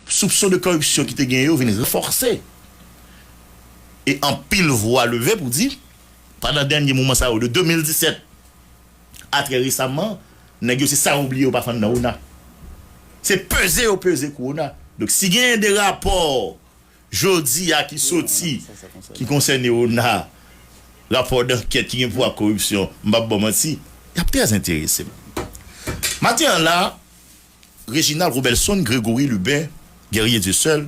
Soupson de koripsyon ki te gen yo vin ranfòse e anpil vwa leve pou di, pandan dènye moman sa yo de 2017 a trè resaman, nèg yo se sa yo bliye yo pa fann nan ona. Se peze yo peze kou ona. Donk si genyen de rapò jodi a ki soti ki konsène ona, rapò dankèt ki gen pou wè ak koripsyon, m p ap ba w manti, y ap trè enterese m. Maten an la. Reginald Robelson Gregory Lubin Guerrier Dieuseul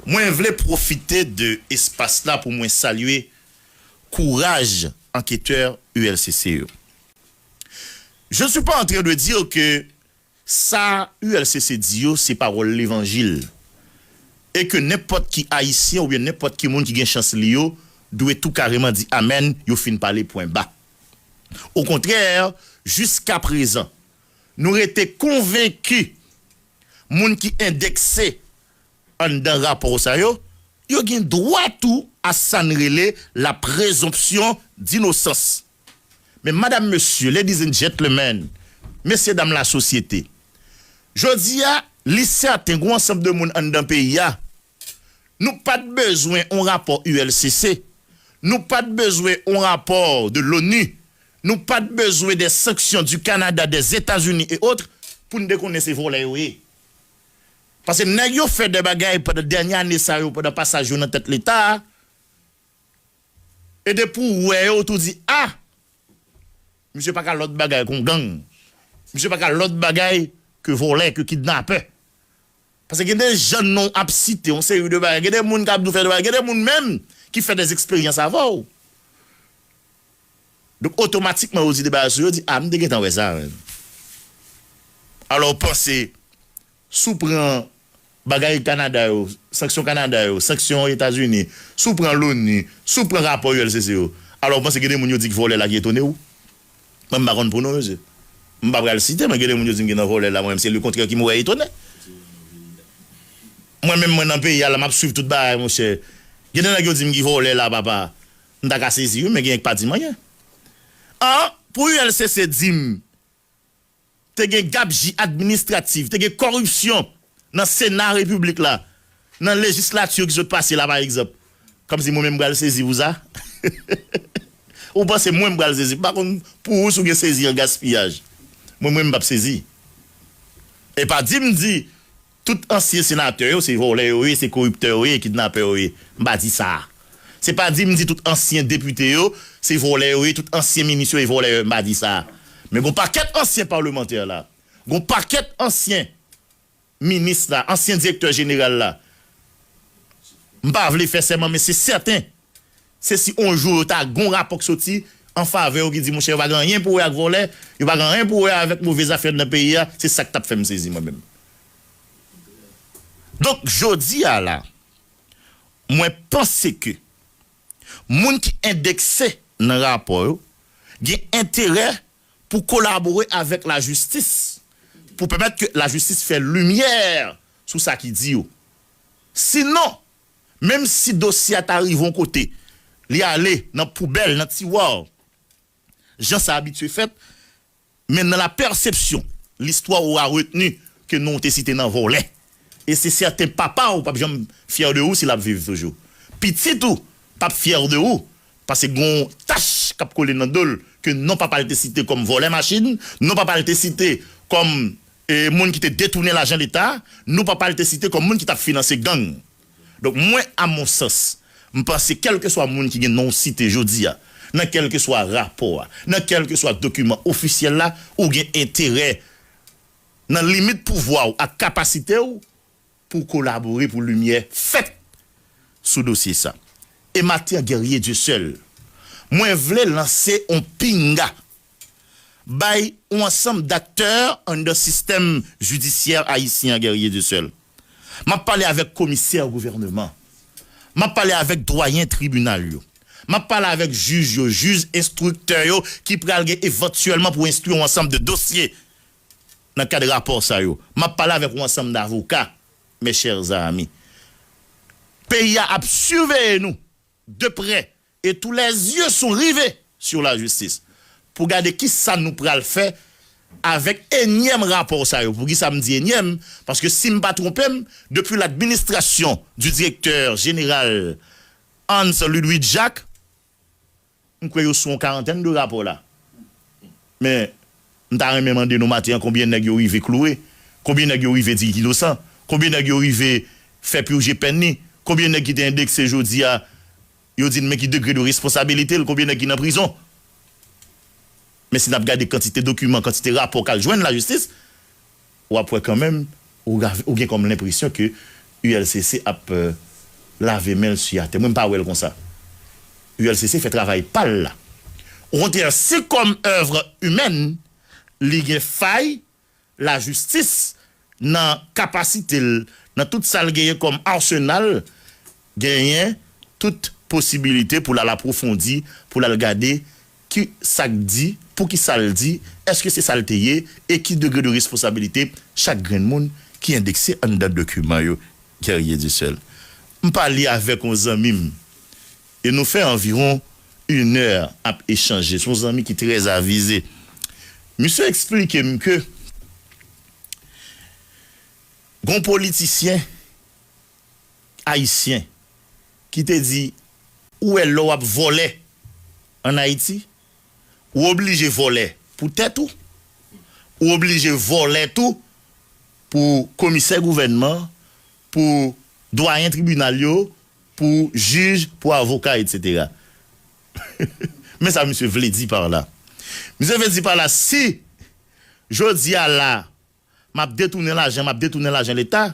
Mwen vle pwofite de espas la pou mwen salye kouraj anketè ULCC yo. Je ne suis pas en train de dire que sa ULCC di yo se pawòl levanjil e ke nenpòt ki Ayisyen oubyen nenpòt ki moun ki gen chans li yo dwe tou kareman di amèn yo fin pale pwen ba. Okontrè jiskaprezan Nou rete konvenki moun ki endekse anndan rapò sa yo, yo gen dwa tou a sa n rele la prezonpsyon dinosans. Men madam mesye, ladies and gentlemen, mesye dam lasosyete, jodi a li sèten gen yon ansanm de moun anndan peyi a Nou pat bezwen on rapò ULCC, nou pat bezwen on rapò de l'ONU, nou pat bezwen des sanctions du Canada, des Etats-Unis et autres poun te konnen se vòlè yo ye. Paske nèg yo fè dè bagay pandan dènye ane sa yo pandan pasaj yo nan tèt leta a e depi ou wè yo ou tou di a misye paka lòt bagay kon gang, misye paka lòt bagay ke vòlè, ke kidnapè. Paske gen de jan non ap site yon seri de bagay, gen de moun kap di w fè de bagay, gen de moun menm ki fè de eksperyans avè w. Donk otomatikman yo di de bagay sou yo, di ah m te gentan wè sa menm. Alò w panse si w pran bagay Kanada yo, sanksyon Kanada yo, sanksyon Etazini, si w pran Loni, si w pran rapò ULCC yo, alò w panse gen de moun yo di ki vòlè la ki etone w? Mwen m pa konn pou nou mesye. M pa pral site men genle moun yo di m ki nan vòlè la mwen menm se le kontrè ki m wè etonè. Mwen menm mwen nan peyi a la map swiv tout bagay monchè. Gen de nèg yo di m ki vòlè la papa. M ta ka sezi wi men genyen ki pa di m anyen. An pou ULCC di m. te gen gabji administratif, te gen kòripsyon nan sena repiblik la, nan legislature ki sot pase la pa egzanp. Kòmsi mwen menm m pral sezi pou sa? Ou panse mwen m pral sezi? M pa konn pou ou si w gen sezi an gaspiyaj. Mwen mwen m pap sezi. E pa di m di. Tout ansyen senatè yo se vòlè yo ye, se koriptè yo ye, kidnapè yo ye. M pa di sa. Se pa di m di tout ansyen depite yo se vòlè yo ye, tout ansyen minis yo e vòlè yo ye, m pa di sa. Men gon pakèt ansyen palemantè la, gon pakèt ansyen minis la, ansyen direktè jeneral la, m pa vle fè sèman men se sèten Se si on jou yo ta gon rapò k soti an favè yo ki di monchè yo pa gen anyen pou wè ak vòlè, yo pa gen anyen pou wè avèk move zafè nan peyi a, se sak tap fèm sezi mwen menm. Donk jodi a la mwen panse ke moun ki endekse nan rapò yo gen enterè pou kolabore avèk lajistis pou pèmèt ke lajistis fè limyè sou sa ki di yo. Sinon. Menm si dosye a ta rive yon kote, li ale nan poubèl, nan tiwa, jan sa abitye fèt, men nan la pèsepsyon, listwa aura retenu ke non w te site nan vòlè. E se sèten papa w pap janm fyè de ou si l ap viv toujou. Pitit ou pap fyè de ou Pase gon tach kap kole nan dol ke non papal te site kom volè machin, non papal te site kom moun ki te detounen lajan leta, non papal te site kom moun ki tap finanse gang. Donk mwen a mon sans, m panse kelkeswa moun ki gen non w site jodi a nan kelkeswa rapo a, nan kelkeswa dokiman ofisyel la, ou gen enterè nan limit pouvwa w ak kapasite w, pou kolabore pou limyè fèt sou dosye sa. Emathan Guerrier Dieuseul, Mwen vle lanse on pinga bay on ansanm daktè anndan sistèm jidisyè ayisyen an Guerrier Dieuseul. M ap pale avèk komisè gouvèneman, m ap pale avèk dwayen tribinal yo, m ap pale avèk jij yo, jij enstriktè yo ki pral gen evantyèlman pou enstwi on ansanm de dosye Nan kad rapò sa yo, m ap pale avèk yon ansanm davoka, Mes chers amis, peyi a ap siveye nou de prè e tous les yeux sont rivés sur la justice pou gade ki sa nou pral fè avèk enyèm rapò sa yo. Poukisa m di enyèm? Paske si m pa twonpe m, depi l'administration du Directeur Général Hans Ludwig Jacques, M kwè yo sou yon karantèn de rapò la. Men, m ta renmen mande nou maten an konbyen nèg yo rive kloure? Konbyen nèg yo rive di li inosan? Konbyen nèg yo rive fè purje pèn li? Konbyen nèg ki te endekse jodi a, yo di n men ki degre de responsabilite l? Konbyen nèg ki nan prizon? Men si n ap gade kantite dokiman, kantite rapò k al jwenn lajistis. W ap wè kanmenm, ou gen kòm lenpresyon ke ULCC ap lave men l su atè. Mwen m pa wè l konsa. ULCC fè travay pa l la. Okontrè, si kòm oeuvre humaine, li gen fay, lajistis nan kapasite l, nan tout sa l genyen kòm arsenal, genyen tout posibilite pou l al apwofondi, pou l al gade Ki sa k di, pou ki sa l di, èske se sa l te ye, e ki degre de responsabilite chak grenn moun ki endekse anndan dokiman yo? Guerrier Duseul, M pale avèk yon zanmi m e nou fè anviwon inè ap echanje. Se yon zanmi ki trè avize. Misye eksplike m ke gen yon politisyen. Ayisyen ki te di ou wè lè w ap vòlè an Ayiti, ou oblije vòlè pou tèt ou, ou oblije vòlè tou pou komisè gouvènman, pou dwayen tribinal yo, pou jij, pou avoka etc. Men sa misye vle di par la. Misye vle di par la si jodi a la. M ap detounen lajan, m ap detounen lajan leta,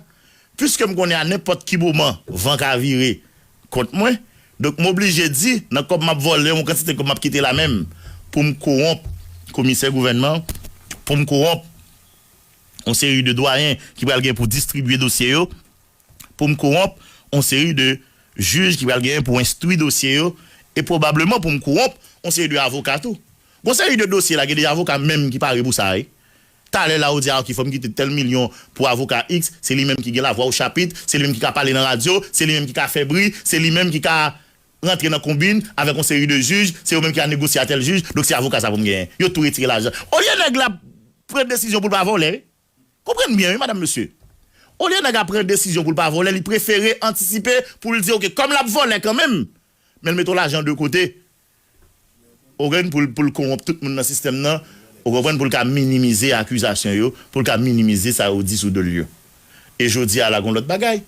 piske m konnen a nenpòt ki moman van ka vire kont mwen, donk m oblije di nan kòb m ap vòlè yon kantite kòb m ap kite la menm pou m kowonp komisè gouvènman, pou m kowonp yon seri de dwayen ki pral gen pou distribye dosye yo, pou m kowonp yon seri de jij ki pral gen pou enstwi dosye yo e pwobableman pou m kowonp yon seri de avoka tou. Gon seri de dosye la gen de avoka menm ki pare pou sa wi. Talè la ou di a ok fòm kite tèl milyon pou avoka ix se li menm ki gen la vwa ou chapit se li menm ki ka pale nan radyo se li menm ki ka fè bri se li menm ki ka rantre nan konbin avèk yon seri de jij se yo menm ki ka negosye a tèl jij donk se avoka sa pou m genyen yo tou retire lajan olye nèg la pran desizyon pou l pa vòlè konprann byen wi madam mesye olye nèg la pran desizyon pou l pa vòlè li prefere antisipe pou l di ok kòm l ap vòlè kanmenm men l mete yon lajan de kote ou konprann, pou l kowonp tout moun nan sistèm nan, ou konprann, pou l ka minimize akizasyon yo, pou l ka minimize sa yo di sou do l yo. E jodi a la gen yon lòt bagay,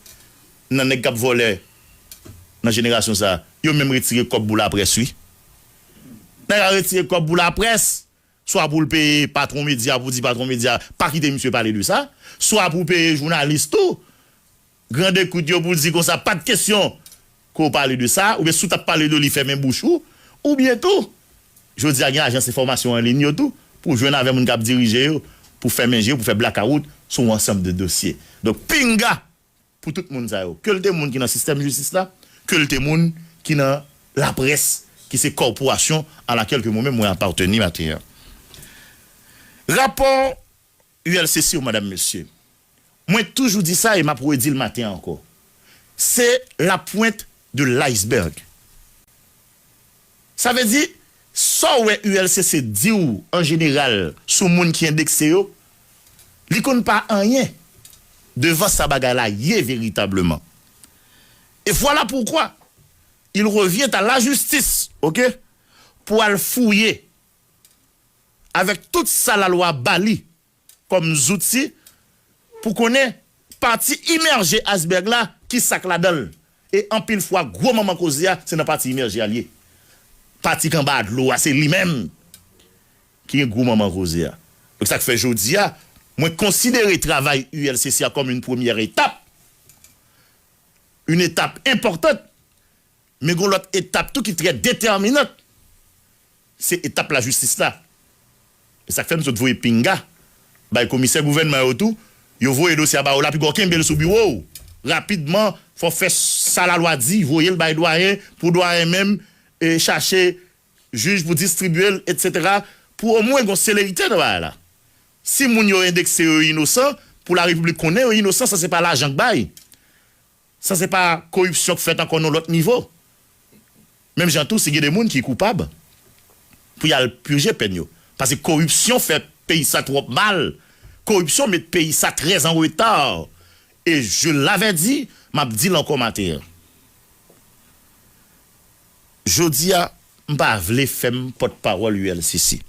nan nèg k ap vòlè nan jenerasyon sa a, yo menm retire kòb pou laprès wi. Nèg la retire kòb pou laprès, swa pou l peye patwon medya pou di patwon medya pa kite misye pale de sa, swa pou peye jounalis tou grand ekout yo pou di konsa pa t kesyon ke w pale de sa oubyen si w t ap pale de li fèmen bouch ou. Oubyen tou, jodi a gen ajans enfòmasyon an liy yo tou pou w jwenn avè moun k ap dirije yo pou fèmen je pou fè blakawout sou yon ansanm de dosye. Donk pinga! pou tout moun sa yo, ke l te moun ki nan sistèm jistis la, ke l te moun ki nan laprès, ki se kòporasyon a lakèl ke mwen menm mwen apateni maten an. Rapò ULCC yo, madam, mesye, mwen toujou di sa e m ap redi l maten an ankò, se la pwent de l iceberg. Sa vle di, sa w wè ULCC di w an jeneral sou moun ki endekse yo, li konn pa anyen devan sa bagay la ye veritableman. Et voilà pourquoi il revient à la justice, ok, pou al fouye avèk tout sa lalwa ba li kòm zouti pou konnen pati imèje aysbèg la ki sa k ladan l e anpil fwa gwo manman koze a se nan pati imèje a l ye pati k anba dlo a se li menm ki gen gwo manman koze a donk sa k fè jodi a mwen konsidere travay ULCC a kòm yn premyè etap yn etap enpòtant Men gon lòt etap tou ki trè detèminant, se etap lajistis la. E sa k fè m sot voye pinga bay komisè gouvènman yo tou, yo voye dosye a ba ou la piga w kenbe l sou biwo w rapidman, fò w fè sa lalwa di, voye l bay dwayen pou dwayen menm chache jij pou distribye l etsetera pou omwen gon selerite nan bagay la. Si moun yo endekse yo inosan, pou larepiblik konnen yo inosan san se pa lajan k bay. Sa se pa koripsyon k fèt ankò nan lòt nivo. Menm jan tou si gen de moun ki koupab pou y al pije pèn yo. Pase koripsyon fè peyi sa twòp mal, koripsyon met peyi sa trè an reta e je l'avais dit, m ap di l ankò maten an. Jodi a m pa vle fè m pòtpawòl ULCC.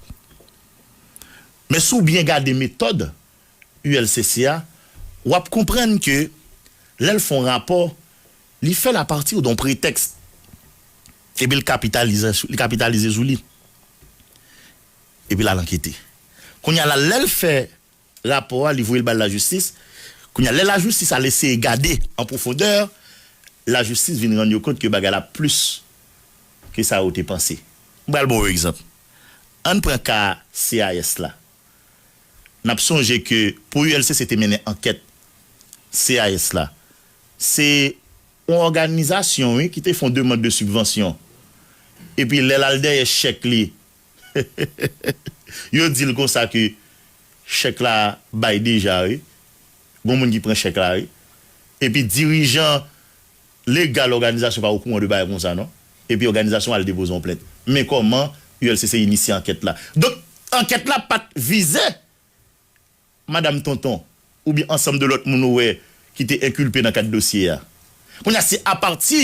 Men si w byen gade metòd ULCC a, w ap konprann ke lè l fè yon rapò, li fè l apati don pretèks epi l kapitalize sou li, epi l al ankete. Kounye a la, lè l fè rapò a, li voye l bay lajistis, kounye a lè lajistis al eseye gade an pwofondè, lajistis vin rann yo kont ke bagay la plis ke sa yo te panse. M pral ba w yon egzanp. Ann pran ka CAS la. N ap sonje ke pou ULCC te mennen ankèt CAS la, se yon òganizasyon wi ki te fon demand de sibvansyon. Epi lè l al dèyè chèk li, yo di l konsa ke chèk la bay deja wi. Gon moun ki pran chèk la wi. Epi dirijan. Legal òganizasyon pa okouran de bagay konsa non. Epi òganizasyon al depoze yon plent. Men kòman ULCC inisye ankèt la. Donk ankèt la pat vize Madam Tonton oubyen ansanm de lòt moun ou wè ki te enkilpe nan kad dosye a. Kounye a se apati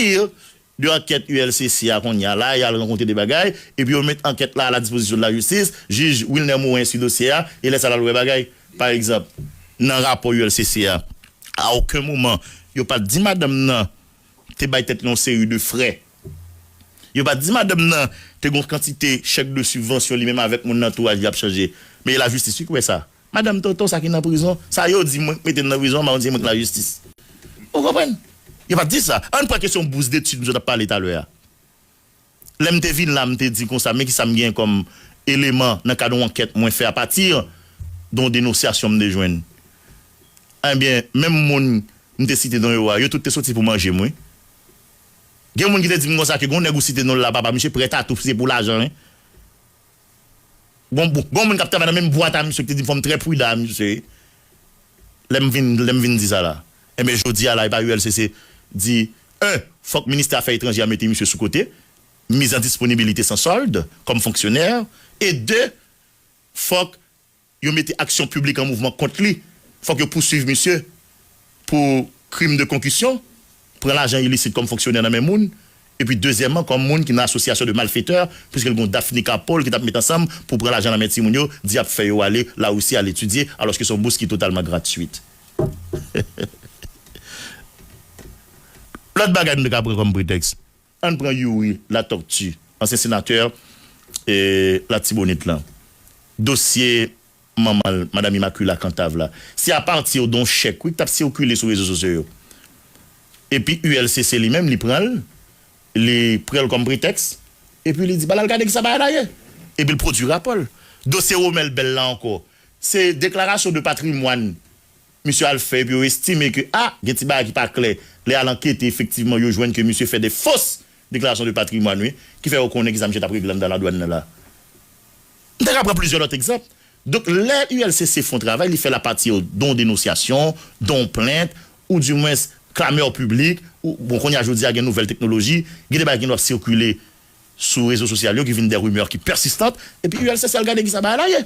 de ankèt ULCC a kounye a la yal rankonte de bagay epi yo met ankèt la a la dispozisyon de la jistis. Jij Wilner Morin sui dosye a e lè sa lal wè bagay. Pa egzanp, nan rapò ULCC a, a oken moman yo pa t di madanm nan te bay tèt li yon seri de frè. Yo pa t di madanm nan te gen yon kantite chèk de sibvansyon li menm avèk moun nan antouraj li ap chanje. Men e lajistis wi ki wè sa. Madanm Tonton sa ki nan prizon, sa yo di mwen k mete l nan prizon an mawon di se mwen ki lajistis. Ou konprann? Yo pa t di sa. Ann pran kesyon bous detid nou sot ap pale talè a. Lè m te vin la, m te di konsa, men ki sa m genyen kòm eleman nan kad yon ankèt mwen fè apati de yon denosyasyon m te jwenn. Enben, menm moun m te site non yo a, yo tout te soti pou manje m wi. Gen moun ki te di m konsa ke gen yon nèg ou site non l la papa misye prè tatou se pou lajan wi. Gon gon moun kap travay nan menm bwat a misye ki te dim fòm trè prudan a misye lèm vin lèm vin di sa la enben jodi a la epa ulcc di 1 fòk ministè afè etranjè a mete misye sou kote mise en disponibilité sans solde kòm fonksyonè e 2 fòk Yo mete aksyon piblik an mouvman kont li, fòk yo pouswiv misye pou krim de konkisyon, pran lajan ilisit kòm fonksyonè nan men moun, epi dezyèman kòm moun ki nan asosyasyon de malfetè, puiske l gen yon Daphne Carpoll ki t ap met ansanm pou pran lajan nan men timoun yo, di y ap fè yo ale Larisi al etidye, alòske se yon bous ki totalman gratwit. Lòt bagay nou te ka pran kòm pretèks. Ann pran Youri Latortue, ansyen senatè Latibonit lan. Dosye manman l, Madam Immaculaa Cantave la, se apati don chèk wi ki t ap sikile sou rezo sosyo yo. Epi ULCC li menm li pran l, li pran l kòm pretèks, epi li di ba l al gade kisa bagay la ye. Epi l pwodui rapò l. Dosye Romel Bell la ankò, se deklarasyon de patrimwàn. misye al fè epi yo estime ke a gen ti bagay ki pa klè lè y al ankete efektivman yo jwenn ke misye fè de fos deklarasyon de patrimwàn wi ki fè yo konnen kisa misye t ap regle anndan ladwàn nan la. M ta ka pran plizyè lòt egzanp. Donk lè ULCC fon travay li fè l apatir don denosyasyon, don plent ou di mwens klamè piblik ou bon kounye a jodi a gen nouvèl teknoloji gen de bagay ki nou ap sikile sou rezo sosyal yo ki vin de rimè ki pèsistant epi ULCC al gade kisa bagay la ye.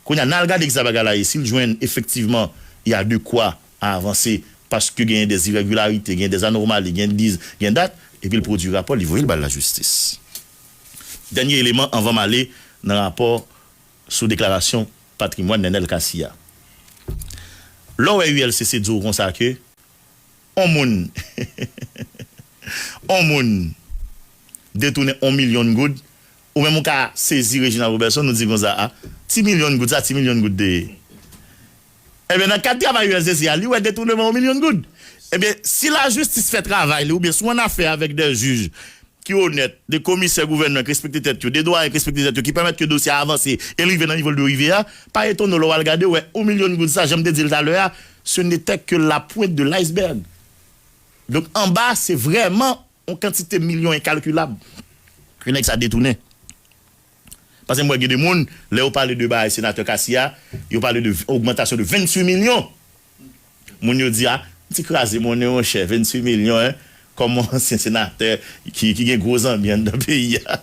Kounya nal gade kisa bagay la ye sil jwenn efektivman ya de kwa a avanse paske genyen des irègilarite genyen des anormali gen diz gen dat epil pwodwi rapò li voyel bay la jistis dènye eleman anvan male nan rapò sou deklarasyon patrimwàn Nènèl Cassy ya lèw wè ULCC diw konsa ke on moun on moun detounen on milyon goud Ou menm ou ka sezi Reginald Roberson ou di konsa a ti milyon goud sa ti milyon goud te ye? Ebyen nan kad travay usdc a li wè detournement 1 milyon goud. Ebyen si la justice fè travay li oubyen si w an afè avèk dè juj ki onèt, de komisè gouvènman ki respekte tèt yo, de dwayen ki respekte tèt yo ki pèmèt ke dosye a avanse e l rive nan nivo l dwe rive a, pa etone w lè w al gade w wè 1 milyon goud sa jan m te di l talè a ce n'était que la pointe de l'iceberg. Donk anba se vrèman. On kantite milyon enkalkilab ke nèg sa detounen. Pase m wè gen de moun, lè yo pale de bagay Senatè Cassy a, yo pale de ogmantasyon de 28 milyon! Moun yo di a, m ti kraze monnen monchè, 28 milyon en, kòm on ansyen Senatè ki gen gwo zanmi anndan peyi a.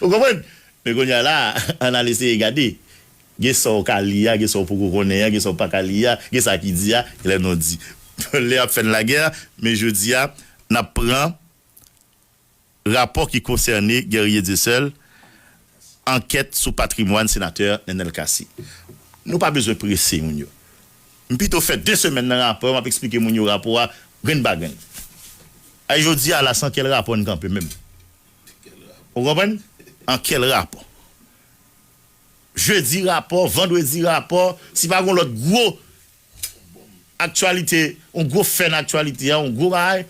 Ou konprann? Men kounye a la, an al eseye gade. Gen sa w ka li a, gen sa w poko konnen an, gen sa w paka li a, gen sa ki di a, gen lè non di. Lè y ap fè n lagè, men jodi a, n ap pran rapò ki konsène Guerrier Dieuseul, ankèt sou patrimwàn Senatè Nenel Cassy. Nou pa bezwen prese moun yo. M pito fè 2 semèn nan rapò, m ap esplike moun yo rapò a grenn pa grenn. Ay jodi a la, san kèl rapò n kanpe menm? Ou konprann? An kèl rapò? Jedi rapò, vandredi rapò, si pa gon lòt gwo aktyalite, yon gwo fè nan aktyalite a, yon gwo bagay,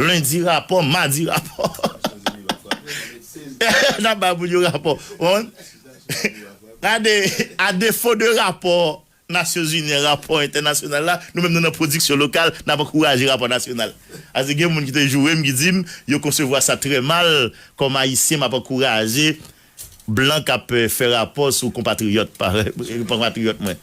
lendi rapò, madi rapò. N ap bay moun yo rapò. Ou konprann? Gade, a defo de rapò. Nasyonzini an rapò entènasyonal la, nou menm nou nan pwodiksyon lokal, n ap ankouraje rapò nasyonal. Ase gen moun ki te joure m ki di m yo konsevwa sa trè mal, kòm Ayisyen m ap ankouraje blan k ap fè rapò sou konpatriyòt pa konpatriyòt mwen.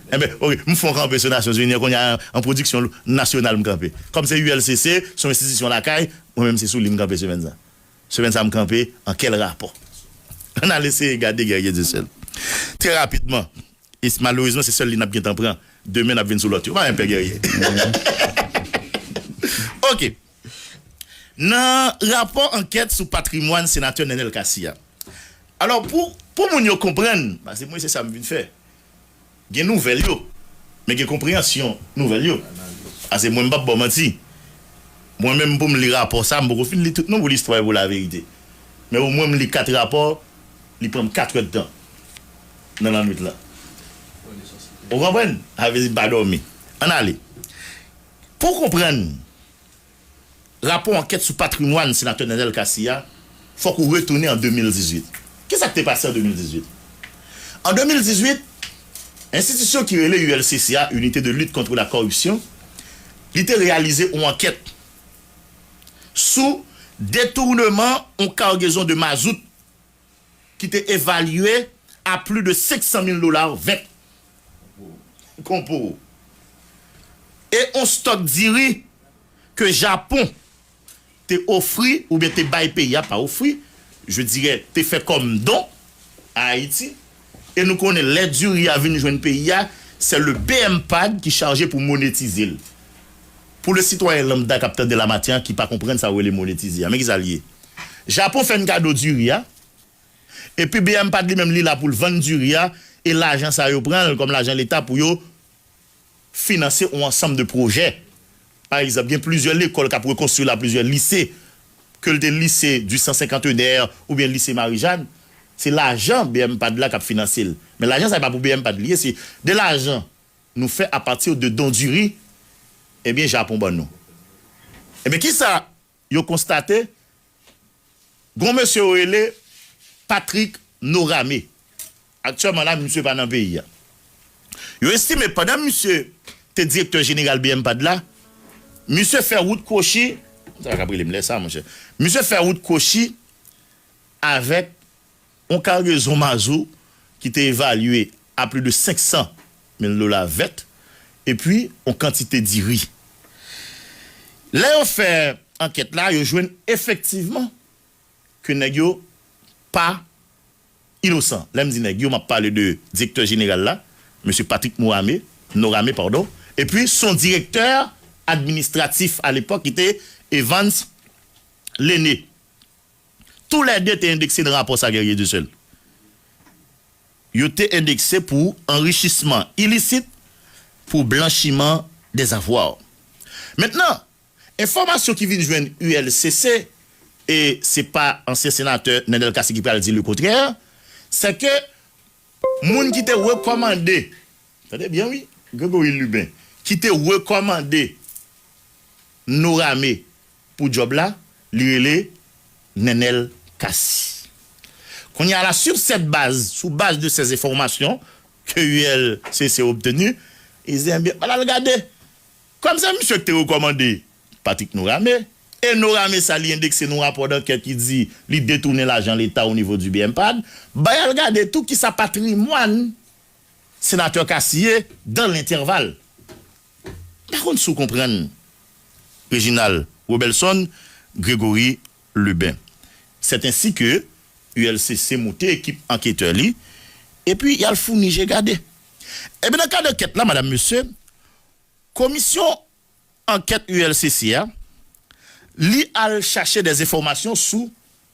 Enben, ok, m fon kanpe sou Nasyonzini an kounye a an pwodiksyon nasyonal m kanpe. Kòm se ULCC, se yon enstitisyon lakay, mwen menm se sou li m kanpe semèn sa. Semèn sa m kanpe an kèl rapò? Ann al eseye gade Guerrier Dieuseul trè rapidman Et malerezman se sèl li nap gentan pran demen nap vin sou lòt yo pa enpè gèrye ok nan rapò ankèt sou patrimwàn senatè Nenel Cassy a alò pou pou moun yo konprann pase mwen se sa m vin fè gen nouvèl yo men gen konpreyansyon nouvèl yo pase mwen m pap baw manti mwen menm pou m li rapò sa m poko fin li tout non pou listwa e pou laverite men omwen m li 4 rapò li pran m 4 èd tan. nan lannwit lan. Ou konprann? Sa vle di m pa dòmi. Ann ale. Pou w konprann rapò ankèt sou patrimwàn Senatè Nenel Cassy a, fòk ou retounen an 2018. Ki sa k te pase an 2018? An 2018, enstitisyon ki rele ULCC a, Unité de Lutte Contre la Corruption, li te reyalize yon ankèt sou detournement yon cargaison de mazout ki te evalye a pli de 500 mil dola vèt kon po e on stòk diri ke Japon te ofri oubyen te bay peyi a, pa ofri, je dirè te fè kòm don a Ayiti. E nou konnen lè diri a vin jwenn peyi a, sè le bmpad ki chaje pou monetize l. Pou le sitwayen lambda k ap tande la maten an ki pa konprann sa yo rele monetize a, men ki sa l ye. Japon fè n kado diri a, epi bmpad li menm li la pou l vann diri a, e lajan sa yo pran l kòm lajan leta pou yo. finanse yon ansanm de pwojè. Pa egzanp, gen plizyè lekòl k ap rekonstwi la, plizyè lise, ke l te lise di san senkantennè oubyen lise Mari Jàn, se lajan bmpad la k ap finanse l. Men lajan sa e pa pou bmpad li ye, se de lajan nou fè apati de don diri ebyen Japon ban nou. Ebyen kisa Yo konstate, gon mesye yo rele Patrick Norame. Aktyèman la misye pa nan peyi a. Yo estime pandan misye te direktè jeneral bmpad la, misye fè wout kwochi, sa pa kab rele m lè sa monchè, misye fè wout kwochi avèk Yon kargezon mazou ki te evalye a pli de 500 mil dola vèt epi yon kantite diri. Lè yo fè ankèt la, yo jwenn efektivman ke nèg yo pa inosan. Lè m di nèg yo, m ap pale de direktè jeneral la, Mesye Patrick Morame, Norame padon, epi son direktè administratif alepòk ki te Evans Lene. Tou lè 2 te endekse nan rapò sa Guerrier Dussel. Yo te endekse pou anrichisman ilisit pou blanchiman de zavwa. Mentnan, enfòmasyon ki vin jwenn ULCC, e se pa ansyen senatè Nenel Cassy ki pral di le kontrè, sè ke moun ki te rekòmande, tande byen wi, Gregory Lubin, ki te rekòmande Norame, Pou djòb la, li rele Nenel Cassy. Kounye a la, sur cette base, sou baz de ces enfomasyon ke ULCC obtenu, Izen Byen al al gade. Kòm se misye ki te rekòmande Patrick Norame, e Norame sa li endekse nou rapò dankèt ki di li detounen lajan leta o nivo di BMPAD, bay al gade tou kisa patrimwàn Senatè Cassy ye dan lentèval. M pa konn si w konprann Reginald Robelson Grégory Lubin. C'est ainsi que ULCC moute ekip anketè li epi y al founi je gade. Ebyen nan kad ankèt la madam mesye, komisyon ankèt ULCC a li al chache des enfòmasyon sou.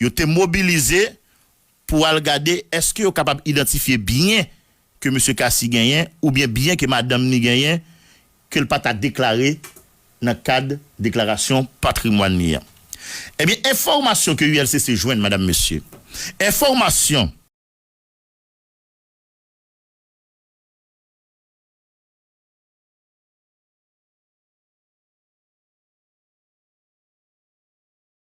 Yo te mobilize pou al gade èske yo kapab idantifye byen ke Mesye Cassy genyen oubyen byen ke madanm ni genyen ke l pa ta deklare nan kad deklarasyon patrimwàn ni an. Ebyen, enfòmasyon ke ULCC jwenn, madam, mesye, enfòmasyon.